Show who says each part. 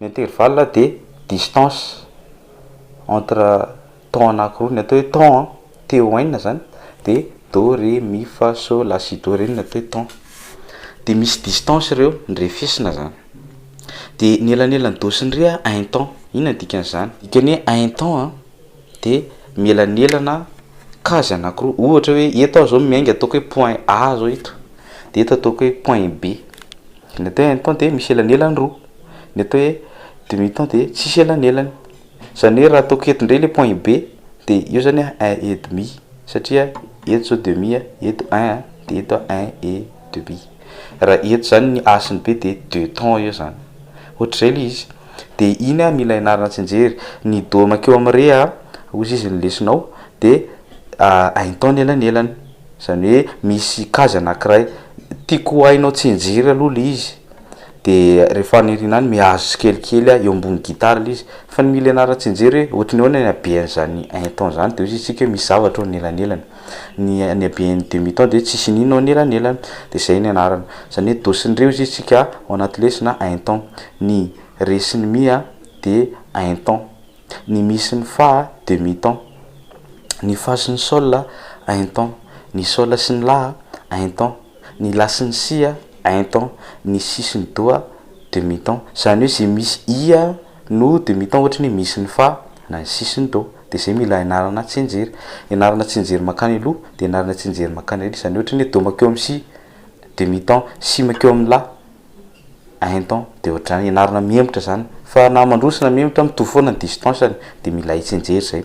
Speaker 1: Ny intervalle dia distance entre temps anakiroa, ny atao hoe temps an, T O N zany dia Do, Ré, Mi, Fa, Sol, La, Si, Do, Ré no atao hoe temps. Dia misy distance ireo nirefesina zany. Dia ny elanelan'ny Do sy ny Ré a un temps, inona ny dikan'izany? Dikany hoe un temps an, de mielanelana case anakiroa ohatra hoe eto aho zao miainga ataoko hoe point A zao eto de eto ataoko hoe point B ny atao hoe un temps de misy elanelany roa ny atao hoe demi temps de tsisy elanelany zany hoe raha ataoko eto ndray le point B de eo zany a un et demi satria eto zao demi a eto un a de eto a un et demi raha eto zany ny A sy ny B de deux temps eo zany ohatr'izay le izy De iny ah mila ianarana tsinjery ny do makeo am re ah ozy izy ny lesonao de aintao ny elanelany zany hoe misy kazy anakiray tiko ho ainao tsinjery aloha le izy de re faniriana any mihazo tsikelikely ah eo ambony gitara le izy fa ny mila ianarana tsinjery hoe ohatry ny ahoana ny habeany zany aintao zany de ozy izy tsika hoe misy zavatra eo ny elanelany. Ny ny haben'ny demi-temps dia tsisy iniana ao anelanelany dia izay ny anarany. Izany hoe do sy ny re hozy isika ao anaty lesy na un temps. Ny re sy ny mi a dia un temps. Ny mi sy ny fa a demi temps. Ny fa sy ny sol a un temps. Ny sol sy ny la a un temps. Ny la sy ny si a un temps. Ny si sy ny do a demi temps. Izany hoe izay misy i a no demi temps ohatra ny hoe mi sy ny fa na ny si sy ny do. dia izay mila ianarana tsianjery. Ianarana tsianjery mankany aloha dia ianarana tsianjery mankany aoriana. Izany ohatry ny hoe do mankeo amin'ny si, demi ton, si mankeo amin'ny la, un ton, dia ohatr'izany. Ianarana mihemotra izany. Fa na mandroso na mihemotra mitovy foana ny distance-ny dia mila hay tsianjery izay.